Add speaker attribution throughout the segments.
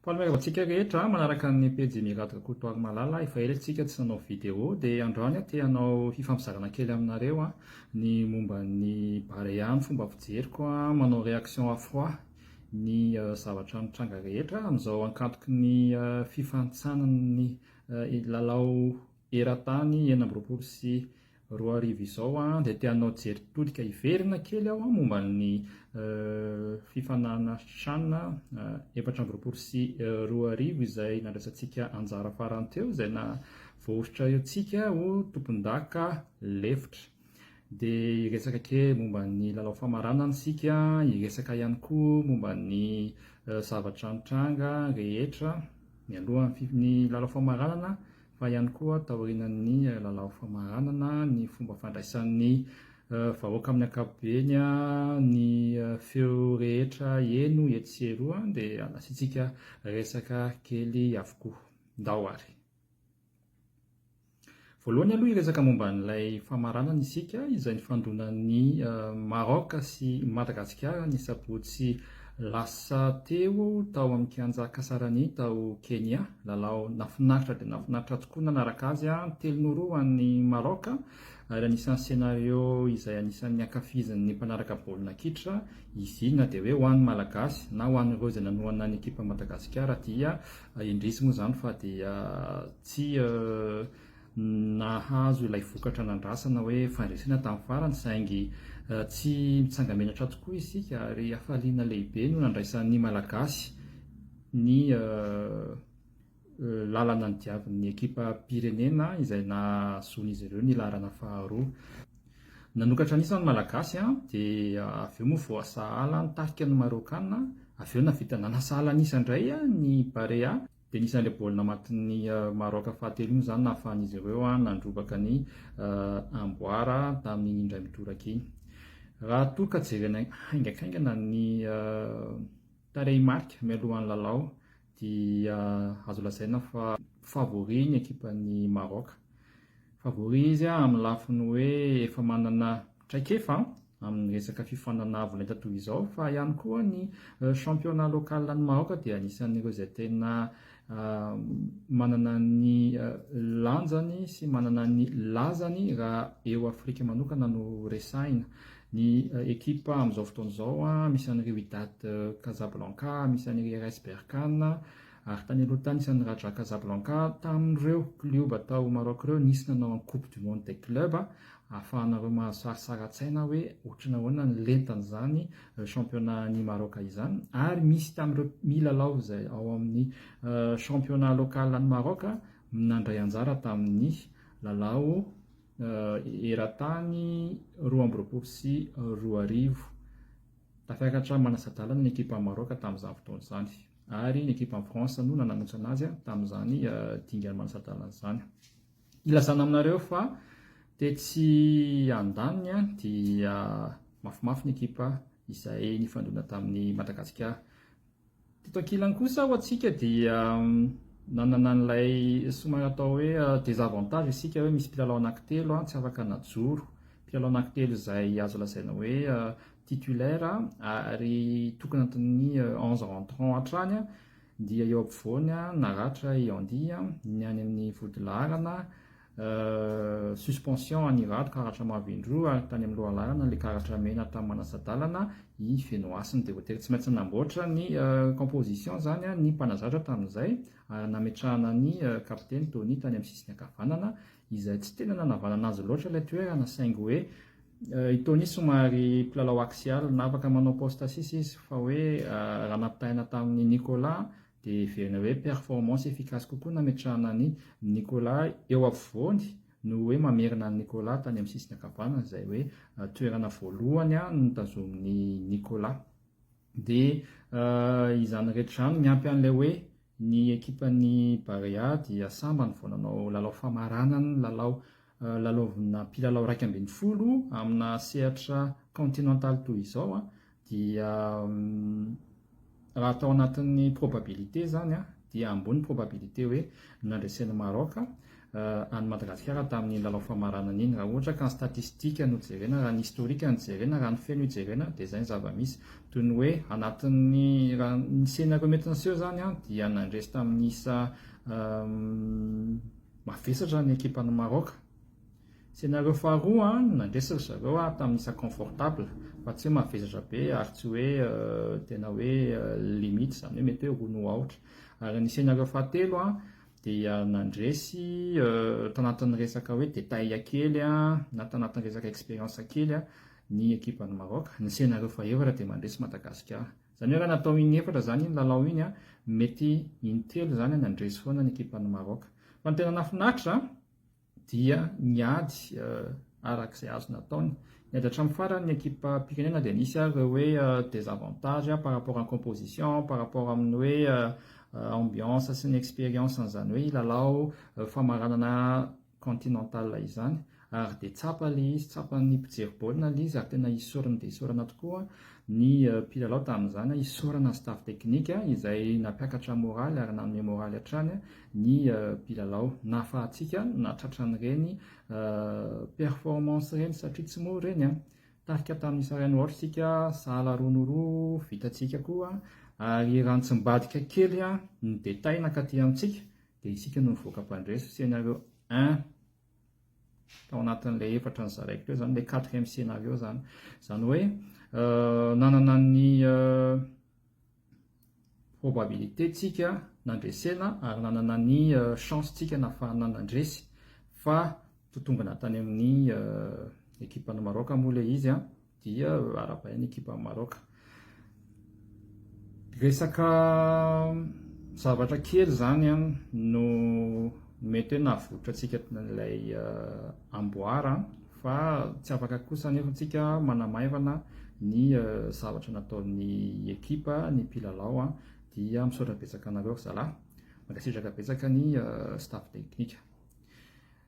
Speaker 1: Faly miarahaba antsika rehetra manaraka ny pejy Miraty Rakotoary Malala. Efa ela isika tsy nanao vidéo dia androany aho te hanao fifampizarana kely aminareo ny momba ny Barea ny fomba fijeriko manao réaction à froid ny zavatra mitranga rehetra amin'izao ankantoky ny fifantsanan'ny lalao eran-tany enina amby roapolo sy Roa hariva izao an, dia te hanao jery tolika hiverina kely aho an, momba ny fifanana chan efatra amby roapolo sy roa arivo izay nandraisantsika anjara farany teo, izay navoahosotra eo tsika ho tompondaka lefitra. Dia hiresaka kely momba ny lalao famaranana isika, hiresaka ihany koa momba ny zavatra nitranga rehetra mialohan'ny lalao famaranana fa ihany koa taorianan'ny lalao famaranana ny fomba fandraisan'ny vahoaka amin'ny ankapobeny ny feo rehetra heno etsy sy eroa dia nasiantsika resaka kely avokoa. Ndao ary. Voalohany aloha hiresaka momba an'ilay famaranana isika izay nifandonan'ny Maroc sy Madagasikara ny sabotsy Lasa teo tao amin'ny Kianja Kasarani tao Kenya, lalao nafinaritra dia nafinaritra tokoa nanaraka azy an, telo noho roa ho an'i Maroc ary anisan'ny scenario izay anisan'ny ankafizin'ny mpanaraka baolina kitra izy iny na dia hoe ho an'ny Malagasy na ho an'ireo izay nanohana ny ekipa Madagasikara dia indrisy moa izany fa dia tsy nahazo ilay vokatra nandrasana hoe fandresena tamin'ny farany saingy tsy mitsanga-menatra tokoa isika ary hafaliana lehibe no nandraisan'ny Malagasy ny lalana nodiavin'ny ekipam-pirenena izay nahazoan'izy ireo ny laharana faharoa. Nanokatra an'isa ny Malagasy dia avy eo moa voasahala ny tarika ny Marôkana, avy eo nahavita nanasahala an'isa indray ny Barea. Dia nisy an'ilay baolina matin'ny Maraoka fahatelo iny izany nahafahan'izy ireo nandrobaka ny amboara tamin'iny indray midoraka iny. Raha toa ka jerena haingankaingana ny tarehimarika mialohan'ny lalao dia azo lazaina fa favori ny ekipan'i Maraoka. Favori izy amin'ny lafiny hoe efa manana Traikefa amin'ny resaka fifananavolainta toy izao fa ihany koa ny championnat local any Maroc dia anisan'ireo izay tena manana ny lanjany sy manana ny lazany raha eo Afrika manokana no resahina. Ny ekipa amin'izao fotoana izao misy an'i Wydad Casablanca, misy an'i RS Berkane ary tany aloha tany nisy an'i Raja Casablanca. Tamin'ireo klioba tao Maroc ireo nisy nanao an'i Coupe du monde des clubs Ahafahanareo mahasarisary an-tsaina hoe ohatran'ny ahoana ny lentan'izany championnat an'i Maroc izany ary misy tamin'ireo milalao izay ao amin'ny championnat local an'i Maroc nandray anjara tamin'ny lalao eran-tany roa amby roapolo sy roa arivo. Tafiakatra manasa-dalana ny ekipan'i Maroc tamin'izany fotoana izany ary ny ekipan'i France no nananontsana azy tamin'izany dingana manasa-dalana izany. Ilazana aminareo fa tetsy andaniny dia mafimafy ny ekipa izay nifandona tamin'i Madagasikara. Teto ankilany kosa ho antsika dia nanana an'ilay somary atao hoe désavantage isika hoe misy mpilalao anankitelo tsy afaka najoro. Mpilalao anankitelo izay azo lazaina hoe titulaire ary tokony anatin'ny onze rentrants hatrany. Dia eo ampovoany naratra i Andy ny any amin'ny vodilaharana, suspension an'i Rado karatra mavo indroa ary tany amin'ny lohalaharana ilay karatra mena tamin'ny manasa-dalana i Fenohasina. Dia voatery tsy maintsy nanamboatra ny composition izany ny mpanazatra tamin'izay ary nametrahana ny kapiteny Tony tany amin'ny sisiny ankavanana izay tsy tena nanavanana azy loatra ilay toerana saingy hoe i Tony somary mpilalao axial na afaka manao poste sisa izy fa hoe raha nampitahaina tamin'ny Nicolas dia heverina hoe performance efficace kokoa nametrahana an'i Nicolas eo afovoany noho hoe mamerina an'i Nicolas tany amin'ny sisiny ankavanana izay hoe toerana voalohany notazomin'i Nicolas dia izany rehetra izany miampy an'ilay hoe Ny ekipan'ny Barea dia sambany vao nanao lalao famaranana ny lalao lalaovina mpilalao iraika ambin'ny folo amina sehatra kaontinantaly toy izao dia raha tao anatin'ny probabilité izany dia ambony ny probabilité hoe nandresen'i Maroc an'i Madagasikara tamin'iny lalao famaranana iny. Raha ohatra ka ny statistika no jerena, raha ny historique no jerena, raha ny feno ijerena dia izay ny zava-misy. Toy ny hoe anatin'ny, raha ny scénario mety niseho izany an, dia nandresy tamin'ny isa mavesatra ny ekipan'i Maroc. Scénario faharoa an, nandresy ry zareo an, tamin'ny isa confortable, fa tsy hoe mavesatra be ary tsy hoe tena hoe limite, izany hoe mety hoe roa no aotra. Ary ny scénario fahatelo an, dia nandresy tanatin'ny resaka hoe détail kely na tanatin'ny resaka expérience kely ny ekipan'i Maroc, ny scénario fahefatra dia mandresy Madagasikara. Izany hoe raha natao inefatra izany iny lalao iny, mety intelo izany nandresy foana ny ekipan'i Maroc. Fa ny tena nahafinaritra, dia niady araka izay azo nataony. Niady hatramin'ny farany ny ekipam-pirenena dia nisy ary ireo hoe désavantages par rapport en composition, par rapport amin'ny hoe ambiance sy ny expérience an'izany hoe lalao famaranana continental izany ary dia tsapa ilay izy, tsapan'ny mpijery baolina ilay izy ary tena isaorana dia isaorana tokoa ny mpilalao tamin'izany, isaorana ny staff technique izay nampiakatra moraly ary nanome moraly hatrany ny mpilalao nahafahantsika nahatratra an'ireny performance ireny satria tsy mora ireny an! Tarika tamin'ny Saharan Horse isika, sahala roa no roa, vitantsika koa ary raha nitsimbadika kely ny détails nankaty amintsika dia isika no nivoaka mpandresy scenario un tao anatin'ilay efatra nozaraiko teo izany, ilay quatrième scenario izany, izany hoe nanana ny probabilité tsika nandresena ary nanana ny chance tsika nahafahana nandresy fa totombina tany amin'ny équipe an'i Maroc moa ilay izy an dia arabaina équipe an'i Maroc resaka zavatra kely zany an no mety hoe nahavotra tsika ilay amboara fa tsy afaka kosa anefa antsika manamaivana ny zavatra nataon'ny ekipa ny mpilalao a dia misaotra betsaka anareo ry zalahy mankasitraka betsaka ny staff technique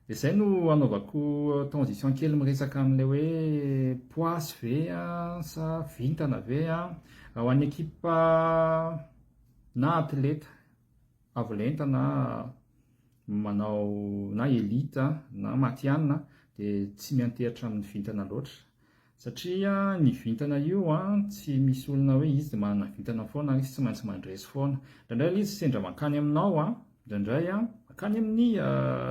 Speaker 1: dia izay no anaovako transition kely miresaka amin'ilay hoe poisy ve a sa vintana ve a raha ho an'ny ekipa na atleta avo lenta na manao na elite na matihanina dia tsy miantehitra amin'ny vintana loatra satria ny vintana io an tsy misy olona hoe izy dia manana vintana foana ary izy tsy maintsy mandresy foana indraindray ilay izy sendra mankany aminao an indraindray an mankany amin'ny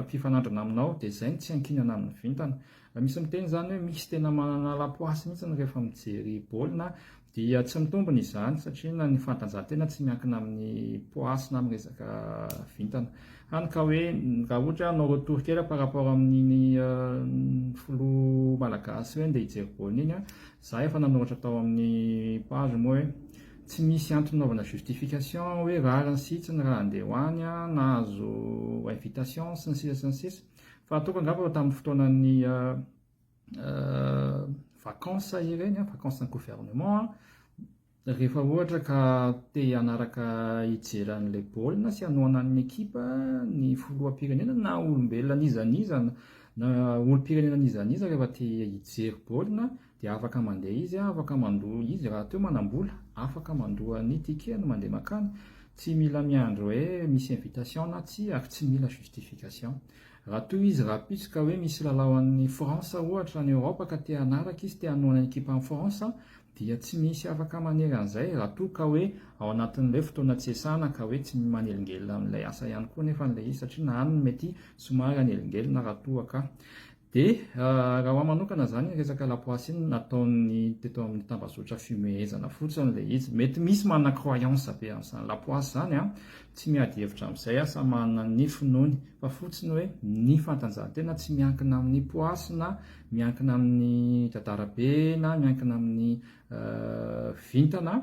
Speaker 1: fifanandrana aminao dia izay no tsy ankinana amin'ny vintana misy miteny izany hoe misy tena manana lapoasy mihitsy rehefa mijery baolina Dia tsy mitombina izany satria na ny fanatanjahantena tsy miankina amin'ny poids sy na amin'ny resaka vintana. Hany ka hoe raha ohatra hoe hanao retour kely par rapport amin'iny filoha malagasy ireny dia hijery baolina iny aho, za efa nanoratra tao amin'ny page moa hoe tsy misy antony anaovana justification hoe rariny sy hitsiny raha handeha ho any, nahazo invitation sy ny sisa sy ny sisa. Fa ataoko angamba fa tamin'ny fotoanan'ny vacances ireny, vacances ny gouvernement, rehefa ohatra ka te hanaraka hijery an'ilay baolina sy hanohana ny ekipa ny filoham-pirenena na olombelona n'iza n'iza na olom-pirenena n'iza n'iza rehefa te hijery baolina dia afaka mandeha izy, afaka mandoa izy rahateo manam-bola, afaka mandoa ny ticket-ny mandeha mankany, tsy mila miandry hoe misy invitation na tsia ary tsy mila justification. Raha toa izy rahampitso ka hoe misy lalao an'ny France ohatra any Europe ka te hanaraka izy, te hanohana ny ekipan'i France, dia tsy misy afaka manery an'izay, raha toa ka hoe ao anatin'ilay fotoana tsy iasana ka hoe tsy manelingelina amin'ilay asa ihany koa nefa an'ilay izy satria na any mety somary hanelingelina raha toa ka. Dia raha ho ahy manokana izany ny resaka lapoasy iny nataon'ny teto amin'ny tambazotra fihomehezana fotsiny ilay izy. Mety misy manana croyance be an'izany lapoasy izany an, tsy miady hevitra amin'izay aho, samy manana ny finoany, fa fotsiny hoe ny fantanjahantena tsy miankina amin'ny poasy na miankina amin'ny dadarabe na miankina amin'ny vintana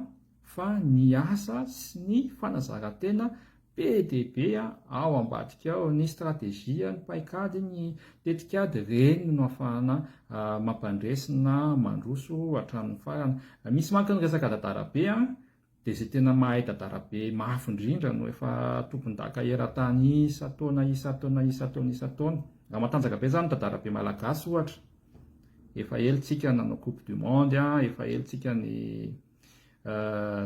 Speaker 1: fa ny asa sy ny fanazarantena Be dia be ao ambadika ao ny stratejia, ny paikady, ny tetikady, ireny no afahana mampandresy na mandroso hatramin'ny farany. Misy manko ny resaka dadarabe dia izay tena mahay dadarabe mafy indrindra no efa tompondaka eran-tany isan-taona, isan-taona, isan-taona, isan-taona. Raha matanjaka be izany ny dadarabe malagasy ohatra, efa ela isika nanao coupe du monde, efa ela isika ny.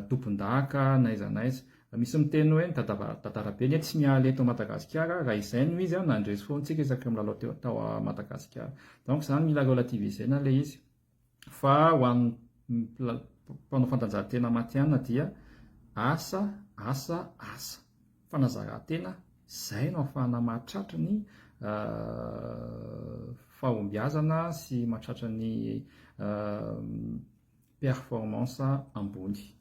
Speaker 1: tompondaka n'aiza n'aiza. Misy miteny hoe ny dadarabe anie tsy miala eto Madagasikara, raha izay no izy nandresy foana antsika isaky ny milalao teo tao Madagasikara. Donc izany mila relativiser-na ilay izy fa ho an'ny mpanao fantanjahantena matihanina dia asa, asa, asa. Fanazaran-tena, izay no ahafahana mahatratra ny fahombiazana sy mahatratra ny performance ambony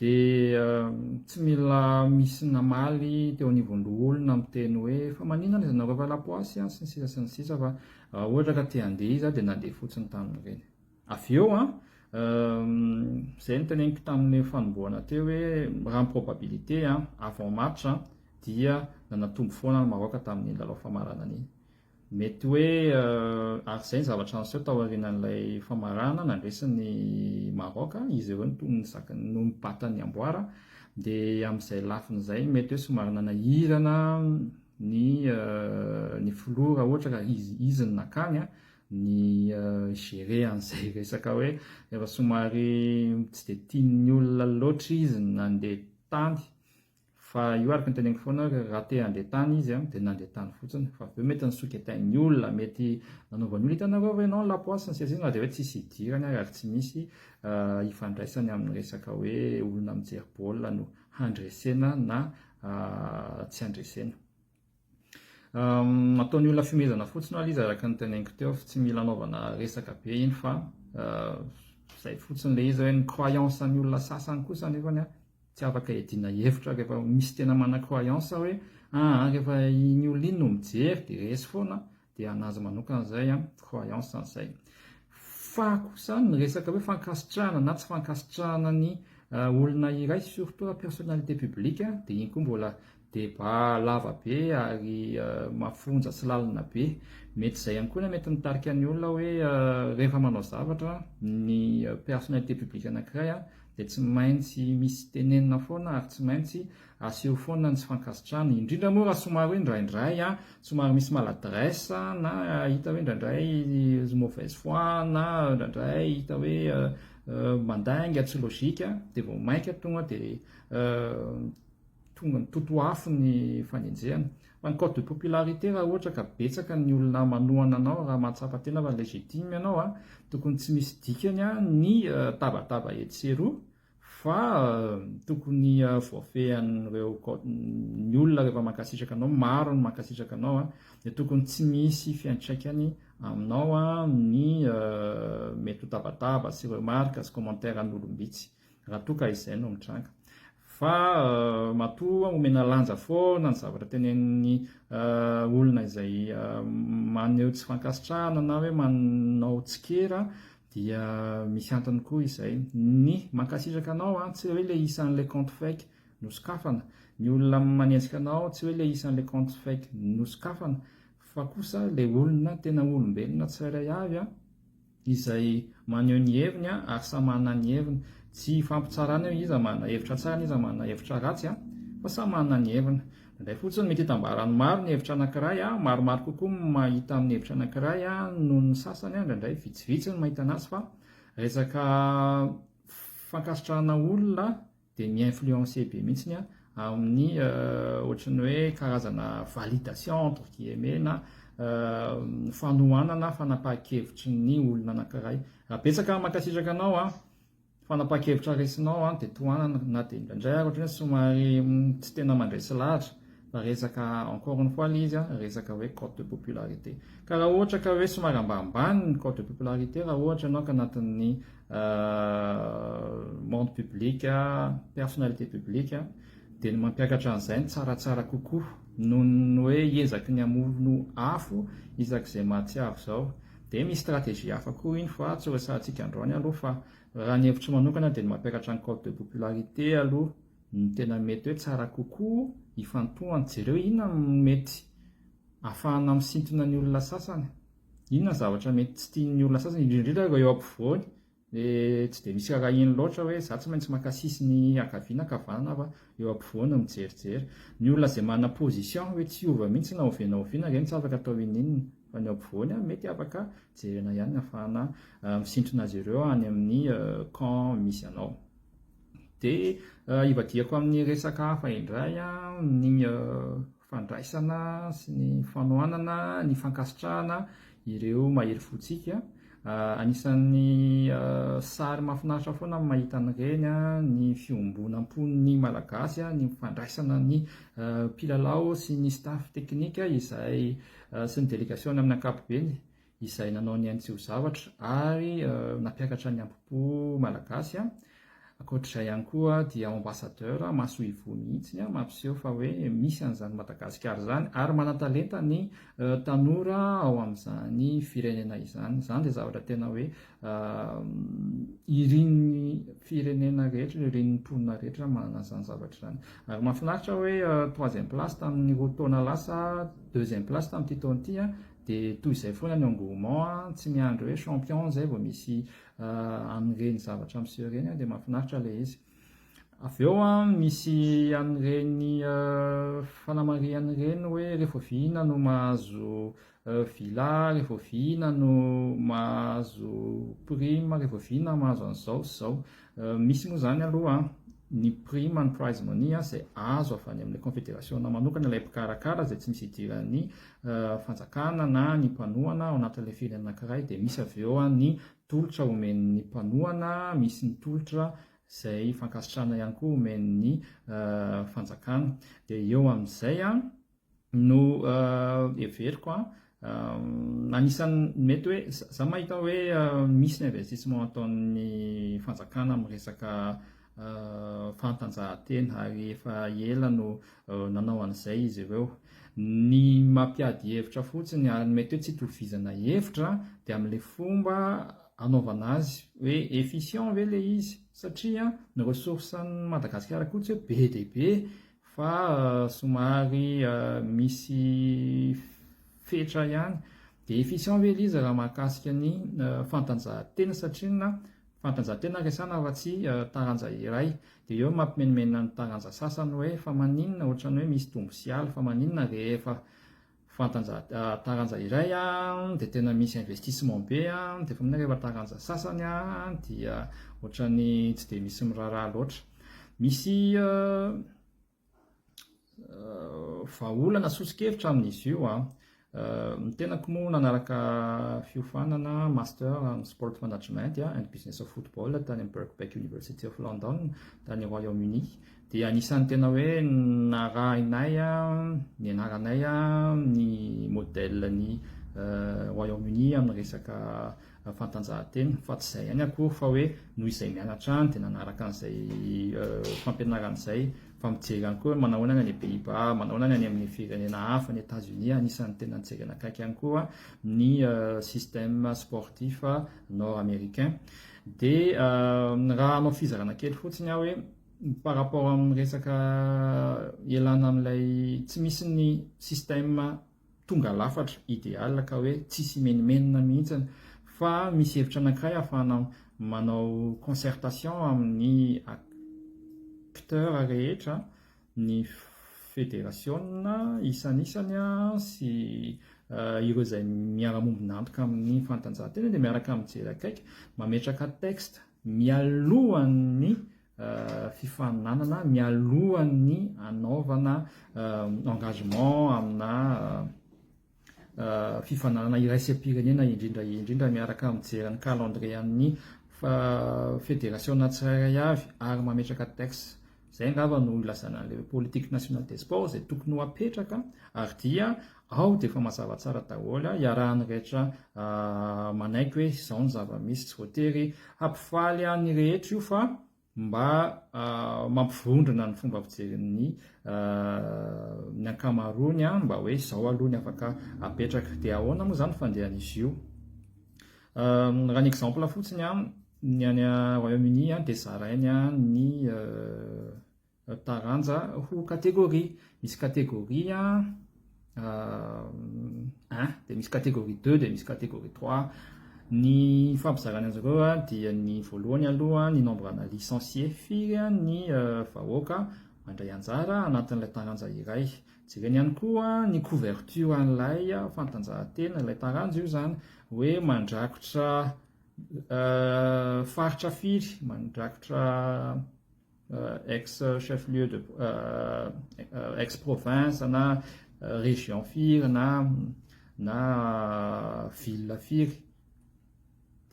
Speaker 1: dia tsy mila misy namaly teo anivon'ny loholona miteny hoe fa maninona no ianareo efa lapoasy an sy ny sisa sy ny sisa fa raha ohatra ka te handeha izy dia nandeha fotsiny tamin'ireny avy eo an izay ny teneniko tamin'ny fanombohana teo hoe raha ny probabilité an avant match dia nanatombo foana ny Maroc tamin'iny lalao famaranana iny Mety hoe ary izay ny zavatra niseho tao aorianan'ilay famarana nandresin'ny Maroc, izy ireo no toa nizaka no nibata ny amboara, dia amin'izay lafiny izay mety hoe somary nanahirana ny ny filoha raha ohatra ka izy izy no nakany ny gérer an'izay resaka hoe efa somary tsy dia tian'ny olona loatra izy ny nandeha tany Fa io araka ny teneniko foana raha te handeha tany izy dia nandeha tany fotsiny fa avy eo mety nisoketain'ny olona mety nanaovan'ny olona hitanareo ve ianao ny lapoasy ny seza izy na dia hoe tsisy hidirany ary ary tsy misy hifandraisany amin'ny resaka hoe olona mijery baolina no handresena na tsy handresena Ataon'ny olona fihomezana fotsiny ho'a izy araka ny teneniko teo tsy mila anaovana resaka be iny fa izay fotsiny ilay izy hoe ny croyance an'ny olona sasany kosa nefany a tsy afaka edina hevitra rehefa misy tena mana croyance hoe aa ah, rehefa iny olona iny no mijery dia resy foana dia an'azy manokana izay an, croyance an'izay. Fa kosa ny resaka hoe fankasitrahana na tsy fankasitrahana ny euh, olona iray surtout la personnalité publique dia iny koa mbola débat lava be ary euh, mafonja sy lalina be mety izay ihany koa na mety mitarika ny olona hoe euh, rehefa manao zavatra ny personnalité publique anankiray dia tsy maintsy misy tenenina foana ary tsy maintsy Aseho foana ny tsy fankasitrahana, indrindra moa raha somary hoe indraindray an, somary misy maladresse na hita hoe indraindray mauvaise foi na indraindray hita hoe mandainga, tsy logique, dia vao mainka tonga dia tonga mitoto afo ny fanenjehana. Fa ny cote de popularité raha ohatra ka betsaka ny olona manohana anao raha mahatsapa tena fa legitime ianao an, tokony tsy misy dikany an ny tabataba etsy sy eroa, Fa tokony voafehin'ireo code ny olona rehefa mankasitraka anao, maro ny mankasitraka anao a, dia tokony tsy misy fiantraikany aminao a ny mety ho tabataba sy remarque sy commentaire an'olom-bitsy, raha toa ka izay no mitranga. Fa matoa omena lanja foana ny zavatra tenenin'ny olona izay maneho tsy fankasitrahana na hoe manao tsikera Dia misy antony koa izay. Ny, mankasitraka anao an, tsy hoe le isan'ilay compte fake nosokafana. Ny olona manenjika anao tsy hoe le isan'ilay compte fake nosokafana fa kosa le olona tena olombelona tsirairay avy an, izay maneho ny heviny an, ary samy manana ny heviny. Tsy ifampitsarana eo iza manana hevitra tsara n'iza manana hevitra ratsy an, fa samy manana ny heviny. Indray fotsiny, mety hitambaran'ny maro ny hevitra anankiray, maromaro kokoa ny mahita amin'ny hevitra anankiray noho ny sasany, indraindray vitsivitsy ny mahita anazy fa resaka fankasitrahana olona dia mi-influencer be mihitsy amin'ny ohatran'ny hoe karazana validation entre guillemets na fanohanana fanapahan-kevitry ny olona anankiray. Betsaka, mankasitraka anao an! Fanapahan-kevitra raisinao an dia tohanana na dia indraindray ary ohatry ny hoe somary tsy tena mandray sy lahatra fa resaka encore une fois ilay izy an resaka hoe cote de popularité ka raha ohatra ka hoe somary ambanimbany ny cote de popularité raha ohatra ianao ka anatin'ny monde public personnalité public dia ny mampiakatra an'izay ny tsaratsara kokoa noho ny hoe hiezaky ny hamono afo isak'izay mahatsiaro izao Dia misy stratégie hafa koa iny fa tsy ho resahantsika androany aloha fa raha ny hevitro manokana dia ny mampiakatra ny cote de popularité aloha no tena mety hoe tsara kokoa ifantohany. Jereo inona no mety ahafahana misintona ny olona sasany, inona ny zavatra mety tsy tian'ny olona sasany indrindra indrindra ireo eo ampovoany dia tsy dia misy arahiny loatra hoe za tsy maintsy maka sisiny ankavia na ankavanana fa eo ampovoany no mijerijery. Ny olona izay manana position hoe tsy hiova mihitsy na oviana na oviana ireny tsy afaka atao ininona fa ny eo ampovoany an mety afaka jerena ihany ny hafahana misintrona azy ireo any amin'ny camp misy anao. Dia ivadihako amin'ny resaka hafa indray an ny fandraisana sy ny fanohanana ny fankasitrahana ireo mahery fontsika. Anisan'ny sary mahafinaritra foana ny mahita an'ireny ny fiombonam-pon'ny Malagasy, ny fandraisana ny mpilalao sy ny staff teknika izay sy ny delegasiona amin'ny ankapobeny. izay nanao ny ainy tsy ho zavatra ary nampiakatra ny ampopo malagasy a ankoatr'izay ihany koa dia ambassadeur masoivoho mihitsy a mampiseho fa hoe misy an'izany madagasikara izany ary manatalenta ny tanora ao amin'izany firenena izany izany dia zavatra tena hoe irin'ny firenena rehetra ireo irin'ny mponina rehetra manana izany zavatra izany ary mafinaritra hoe troisième place tamin'ny roa taona lasa deuxième place tamin'ity taona ity a De toy izay foana ny engouement a, tsy miandry hoe champion zay vao misy an'ireny zavatra miseho ireny a, de mahafinaritra ilay izy. Avy eo a, misy an'ireny fanamarihana ireny hoe rehefa oviana no mahazo villa, rehefa oviana no mahazo prime, rehefa oviana mahazo an'izao sy izao. Misy moa izany aloha ny prime and prize money izay azo avy any amin'ny konfederasiona manokana ilay mpikarakara izay tsy misy idiran'ny fanjakana na ny mpanohana ao anatin'ilay firenena anankiray dia misy avy eo ny tolotra omen'ny mpanohana misy ny tolotra izay fankasitrahana ihany koa omen'ny fanjakana dia eo amin'izay an no heveriko an, anisan'ny mety hoe za mahita hoe misy ny investissement ataon'ny fanjakana amin'ny resaka fanatanjahantena ary efa ela no nanao an'izay izy ireo. Ny mampiady hevitra fotsiny ary ny mety hoe tsy itovizana hevitra dia amin'ilay fomba anaovana azy hoe efficient ve ilay izy satria ny ressources an'i Madagasikara koa tsy hoe be dia be fa somary misy fetra ihany dia efficient ve liza raha mahakasika ny fantanjahantena satria na fantanjahantena resana fa tsy taranja iray dia eo mampimenomenona ny taranja sasany hoe fa maninona ohatran'ny hoe misy dombosiala fa maninona rehefa Fantanja taranja iray an dia tena misy investissement be an dia efa mino aho rehefa taranja sasany an dia ohatran'ny tsy dia misy miraharaha loatra misy vahaolana sosokevitra amin'izy io an ny tenako moa nanaraka fiofanana master amin'ny sport management and business of football tany amin'ny Birkbeck University of London tany Royaume-Uni Dia anisan'ny tena hoe narahinay nianaranay ny modèle ny Royaume Uni amin'ny resaka fantanjahantena fa tsy izay ihany akory fa hoe noho izay mianatra any dia nanaraka an'izay fampianarana izay fa mijery ihany koa hoe manao ahoana ny any Pays-Bas, manao ahoana ny any amin'ny firenena hafa, ny Etats-Unis anisan'ny tena nijery anakaiky ihany koa ny système sportif nord-américain. Dia raha hanao fizarana kely fotsiny aho hoe par rapport amin'ny resaka ialana amin'ilay tsy misy ny système tonga lafatra idéal ka hoe tsisy imenimenina mihitsy fa misy hevitra anankiray ahafahana manao concertation amin'ny acteurs rehetra ny federasiona isanisany sy ireo izay miara-mombon'antoka amin'ny fanatanjahantena dia miaraka mijery akaiky mametraka texte mialohan'ny fifaninanana, mialohan'ny hanaovana engagement amina fifaninanana iraisam-pirenena indrindra indrindra miaraka amin'ny mijery ny calendrier an'ny federasiona tsirairay avy ary mametraka texte Izay angamba no ilazana an'ilay politique nationale des sports izay tokony ho apetraka ary dia ao dia efa mazava tsara daholo, iarahan'ny rehetra manaiky hoe izao ny zava-misy, tsy voatery hampifaly ny rehetra io fa mba mampivondrona ny fomba fijerin'ny ny ankamaroany mba hoe izao aloha ny afaka apetraka, dia ahoana moa izany fandehan'izy io? Raha ny exemple fotsiny, ny any Royaume Uni dia zarainy ny taranja ho catégorie. Misy catégorie un, dia misy catégorie deux, dia misy catégorie trois. Ny ifampizarany azy ireo dia ny voalohany aloha ny nombre ana licenciés firy ny vahoaka mandray anjara anatin'ilay taranja iray. Jereny ihany koa ny couverture an'ilay fantanjahantena, ilay taranja io izany hoe mandrakotra faritra firy, mandrakotra ex chef lieu de ex province na région firy na na ville firy.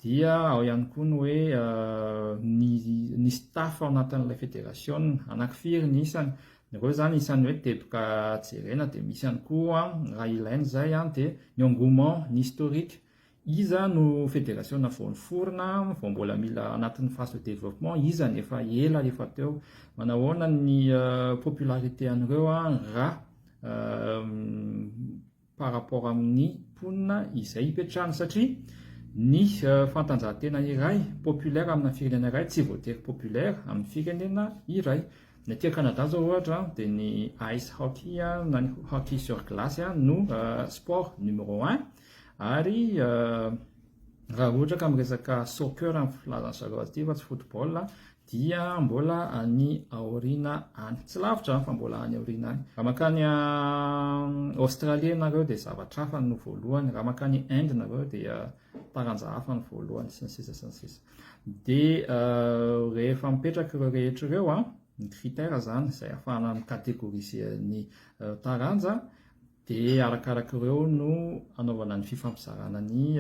Speaker 1: Dia ao ihany koa ny hoe ny ny staff ao anatin'ilay federasiona, anankifiry ny isany, ireo izany isan'ny hoe teboka jerena, dia misy ihany koa raha ilaina izay dia ny engouement, ny historique, iza no federasiona vao niforona, vao mbola mila anatin'ny phase de développement, iza ny efa ela efa teo, manahoana ny popularité an'ireo raha par rapport amin'ny mponina izay ipetrahany satria ny fantanjahantena iray populaire amina firenena iray tsy voatery populaire amin'ny firenena iray. Ny aty Canada izao ohatra dia ny ice hockey na ny hockey sur glace no sport numéro un ary raha ohatra ka miresaka soccer amin'ny filazan'ny zareo azy ity fa tsy football dia mbola any aoriana any. Tsy lavitra an, fa mbola any aoriana any. Raha makany Australie ianareo dia zavatra hafa no voalohany, raha makany Inde nareo dia taranja hafa no voalohany sy ny sisa sy ny sisa. Dia rehefa mipetraka ireo rehetra ireo an, ny critère zany izay afahana micategoriser ny taranja Dia arakaraka ireo no anaovana ny fifampizarana ny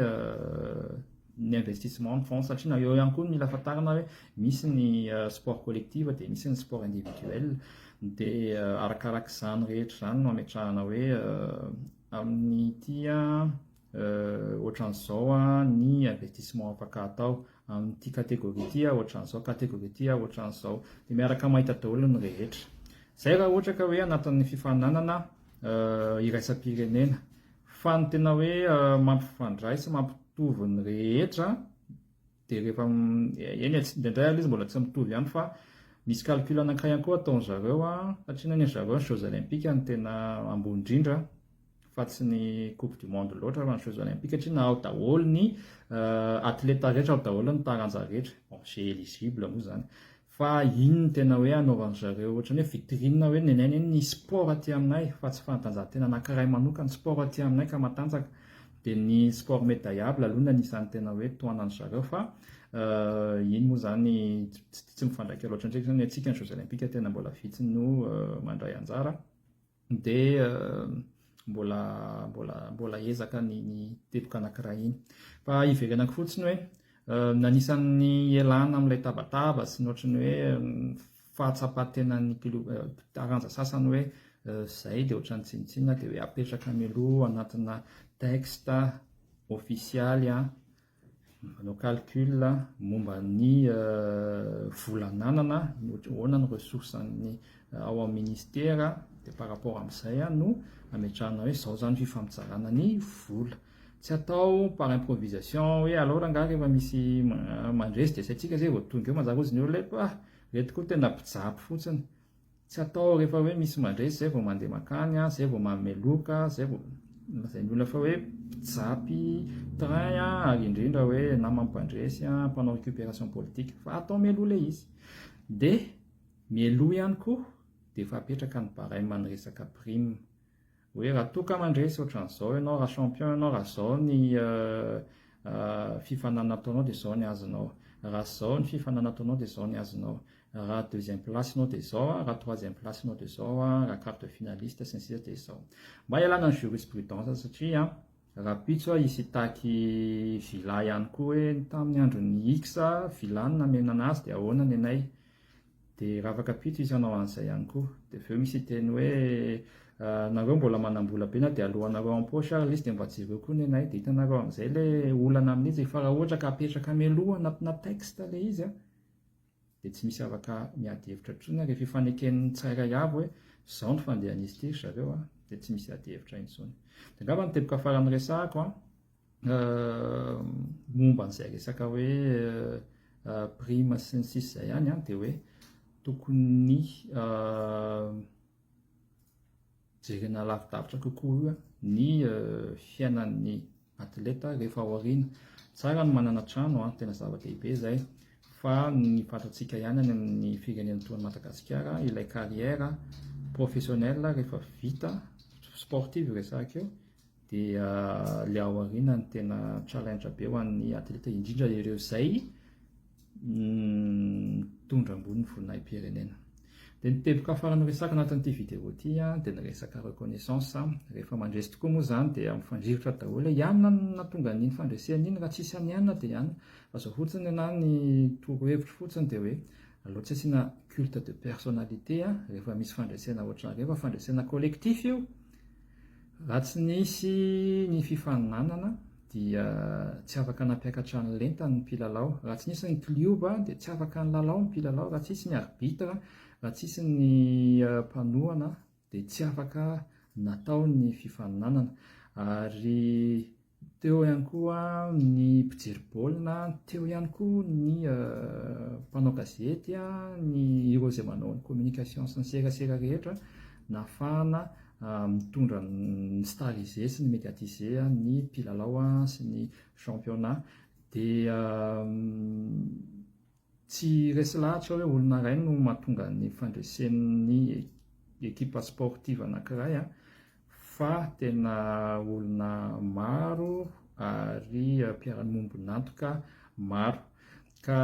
Speaker 1: ny investissement ny fonds satria na eo ihany koa ny mila fantarina hoe misy ny sport collective dia misy ny sport individuel dia arakaraka izany rehetra izany no ametrahana hoe amin'ny ity ohatran'izao ny avertissement afaka atao amin'ity catégorie ity ohatran'izao, catégorie ity ohatran'izao, dia miaraka mahita daholo ny rehetra. Izay raha ohatra ka hoe anatin'ny fifaninanana iraisam-pirenena, fa ny tena hoe mampifandray sy mampitovy ny rehetra Dia rehefa eny e, indraindray aloha izy mbola tsy mitovy ihany fa misy calcul anankiray ihany koa ataon-dry zareo satria ny an'dry zareo ny jeux olympiques no tena ambony indrindra fa tsy ny coupe du monde loatra fa ny jeux olympiques satria na ao daholo ny athleta rehetra ao daholo ny taranja rehetra, bon, j'ai eligible moa izany. Fa inn no tena hoe anaovan zareo ohatrany hoe vitrine hoe nenay anie ny sport aty aminay fa tsy fanatanjahantena anakiray manokana sport aty aminay ka matanjaka dia ny sport medaillable aloha no anisany tena hoe tohanan zareo fa inn moa izany tsy mifandraika loatra ndray izany hoe ny antsika ny jeux olympiques tena mbola vitsy no mandray anjara dia mbola mbola mbola ezaka ny ny teboka anankiray iny fa iverenako fotsiny hoe anisan'ny elana amin'ilay tabataba sy ny ohatran'ny hoe fahatsapan-tena ny taranja sasany hoe zay dia ohatran'ny tsinontsinona dia hoe apetraka mialoha anatina texte ofisialy Manao calcul momba ny vola ananana, ny ahoana ny ressources an'ny ao amin'ny ministera, dia par rapport amin'izay no ametrahana hoe izao izany fifampizarana ny vola. Tsy atao par improvisation hoe alao rangahy rehefa misy mandresy dia asaintsika izay vao tonga eo, manjary hozy ny olona hoe ah! ireto koa tena mpijapy fotsiny. Tsy atao rehefa hoe misy mandresy zay vao mandeha makany, zay vao manome loka, zay vao lazain'ny olona fa hoe mpijapy train ary indrindra hoe namany mpandresy, mpanao récupération politique fa atao mialoha ilay izy. Dia mialoha ihany koa dia efa apetraka ny barème ny resaka prime. hoe raha toa ka mandresy ohatran'izao ianao, raha champion ianao, raha izao ny fifaninanana ataonao dia izao ny azonao, raha izao ny fifaninanana ataonao dia izao ny azonao, raha deuxième place ianao dia izao, raha troisième place ianao dia izao, raha quart de finaliste sy ny sisa dia izao. Mba hialana ny jurisprudence satria rahampitso aho hisy hitaky villa ihany koa hoe tamin'ny andron'i X villa no namena an'azy dia ahoana ny anay. Dia raha afaka pito izy hanao an'izay ihany koa. Dia avy eo misy hiteny hoe, nareo mbola manam-bola be na dia alohanareo en poche ary ilay izy dia mba jereo koa ny anay. Dia hitanareo amin'izay ilay olana amin'izy e. Fa raha ohatra ka apetraka mialoha anatina texte ilay izy an, dia tsy misy afaka miady hevitra intsony ary efa ifaneken'ny tsirairay avy hoe izao ny fandehan'izy ity ry zareo an, dia tsy misy ady hevitra intsony. Dia angamba ny teboka farany resahako an, momba an'izay resaka hoe prime sy ny sisa izay ihany an dia hoe tokony jerena lavidavitra kokoa ny fiainan'ny atleta rehefa ao aoriana tsara ny manana trano an tena zava-dehibe izay fa ny fatantsika ihany any amin'ny firenena toa an'i Madagasikara ilay carrière professionnelle rehefa vita sportive resahiko eo Dia ilay ao aoriana no tena challenge be ho an'ny atleta, indrindra ireo izay mitondra ambony ny voninahi-pirenena. Dia ny teboka afara noresaka anatin'ity vidéo ity dia ny resaka reconnaissance. Rehefa mandresy tokoa moa izany dia mifandrirotra daholo. I Anna no nahatonga an'iny fandresena iny, raha tsy hisy an'i Anna dia i Anna. Fa izao fotsiny na ny torohevitro fotsiny dia hoe aleo tsy asiana culte de personnalité rehefa misy fandresena ohatran'ireny fa fandresena collectif io Raha tsy nisy ny fifaninanana dia tsy afaka nampiakatra ny lenta ny mpilalao. Raha tsy nisy ny klioba dia tsy afaka nilalao ny mpilalao. Raha tsy nisy ny arbitre, raha tsy nisy ny mpanohana dia tsy afaka natao ny fifaninanana. Ary Teo ihany koa ny mpijery baolina, teo ihany koa ny mpanao gazety, ny ireo izay manao ny communication sy ny serasera rehetra nahafahana mitondra ny stariser sy ny mediatiser ny mpilalao sy ny championnat dia Tsy resy lahatra hoe olona iray no mahatonga ny fandresen'ny ekipa sportive anankiray fa tena olona maro ary mpiara-miombon'antoka maro. Ka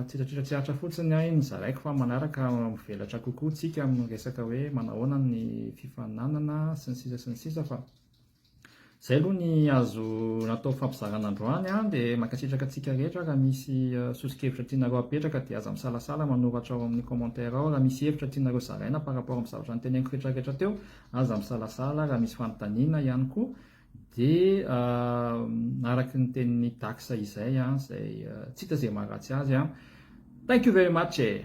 Speaker 1: tsitratitra tsy hatra fotsiny ahy ny zaraiko fa manaraka mivelatra kokoa tsika amin'ny resaka hoe manahoana ny fifaninanana sy ny sisa sy ny sisa fa Izay aloha ny azo natao fampizarana androany an, dia mankasitraka antsika rehetra raha misy soso-kevitra tianareo apetraka dia aza misalasala manoratra ao amin'ny commentaire ao, raha misy hevitra tianareo zaraina par rapport amin'ny zavatra noteneniko retraretra teo aza misalasala, raha misy fanontaniana ihany koa dia araky ny tenin'i Dax izay an, izay tsy hita izay maharatsy azy an, thank you very much e!